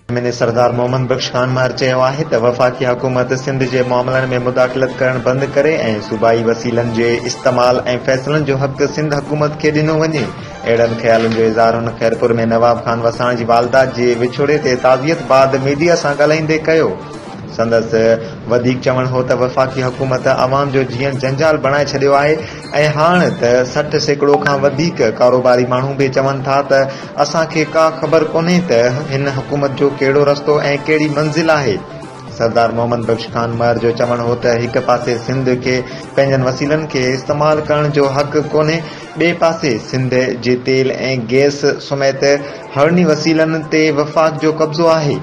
M N A Sardar Muhammad Bakhsh خانمار چيو آهي ته وفاقي حڪومت سنڌ جي معاملن ۾ مداخلت ڪرڻ بند ڪري ۽ صوبائي وسيلن جي استعمال ۽ فيصلن جو حق سنڌ حڪومت کي ڏنو وڃي اهڙن خيالن جو اظهار هن خيرپور ۾ نواب خان وساڻ جي والده جي وڇوڙي تي تعزيت بعد ميڊيا سان ڳالهائيندي ڪيو سندس وڌيڪ چوڻ هو ته وفاقي حڪومت عوام جو جيئڻ جنجال بڻائي ڇڏيو آهي ۽ هاڻ ته سٺ سيڪڙو کان وڌيڪ ڪاروباري ماڻهو به چون ٿا ته اسان کي ڪا خبر ڪونهي ته هن حڪومت جو ڪهڙو رستو ۽ ڪهڙي منزل آهي. سردار محمد بخش خان مهر جو چوڻ هو ته هڪ پاسي سنڌ کي پنهنجن وسيلن کي استعمال ڪرڻ جو حق ڪونهي ٻئي پاسي سنڌ جي تيل ۽ گئس سميت هڙني وسيلن تي وفاق جو قبضو آهي.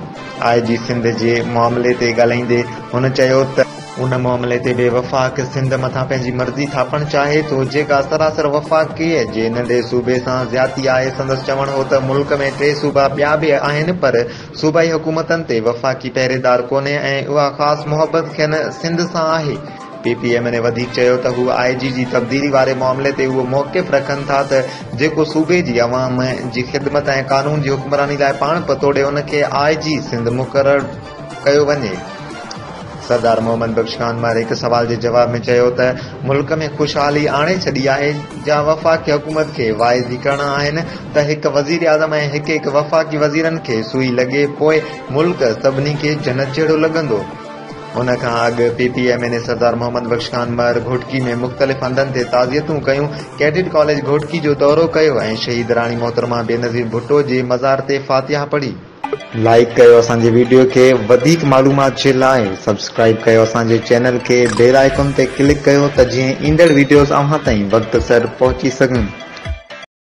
آء جي سنڌ جي معاملي تي ڳالهائيندي هن چيو ته. ان معاملي تي به وفاق سنڌ مٿان پنهنجي مرضي ٿاپڻ چاهي ٿو جيڪا سراسر وفاقي جي ننڍي صوبي سان زيادتي آهي سندس چوڻ هو ته ملڪ ۾ ٽي صوبا ٻيا به آهن پر صوبائي حڪومتن تي وفاقي پهريدار ڪونهي ۽ اها خاص محبت کين سنڌ سان آهي پي پي ايم ني وڌيڪ چيو ته هو آء جي جي تبديلي واري معاملي تي اهو موقف رکن ٿا ته جيڪو صوبي جي عوام جي خدمت ۽ قانون جي حڪمراني لاء پاڻ پتوڙي ان کي آء جي سنڌ مقرر ڪيو وڃي. سردار محمد بخش خان مهر هڪ سوال جي جواب ۾ چيو ته ملڪ ۾ خوشحالي آڻي ڇڏي آهي جا وفاقي حڪومت کي واعظي ڪرڻا آهن ته هڪ وزيراعظم ۽ هڪ هڪ وفاقي وزيرن کي سوئي لڳي پوء ملڪ سڀني کي جنت جهڙو لڳندو. ان کان اڳ P P M N A Sardar Muhammad Bakhsh Khan Mahar Ghotki ۾ مختلف هنڌن تي تعزيتون ڪيون، ڪيڊٽ ڪاليج گهوٽڪي جو دورو ڪيو ۽ شهيد راڻي محترمه بينظير ڀٽو جي مزار تي فاتحه پڙهي. لائيڪ ڪيو اسان جي وڊيو کي وڌيڪ معلومات جي لاء سبسڪرائيب ڪيو اسان جي چينل کي بيل آئيڪون تي ڪلڪ ڪيو ته جيئن ايندڙ وڊيوز اوهان تائين وقت سر پهچي سگهن.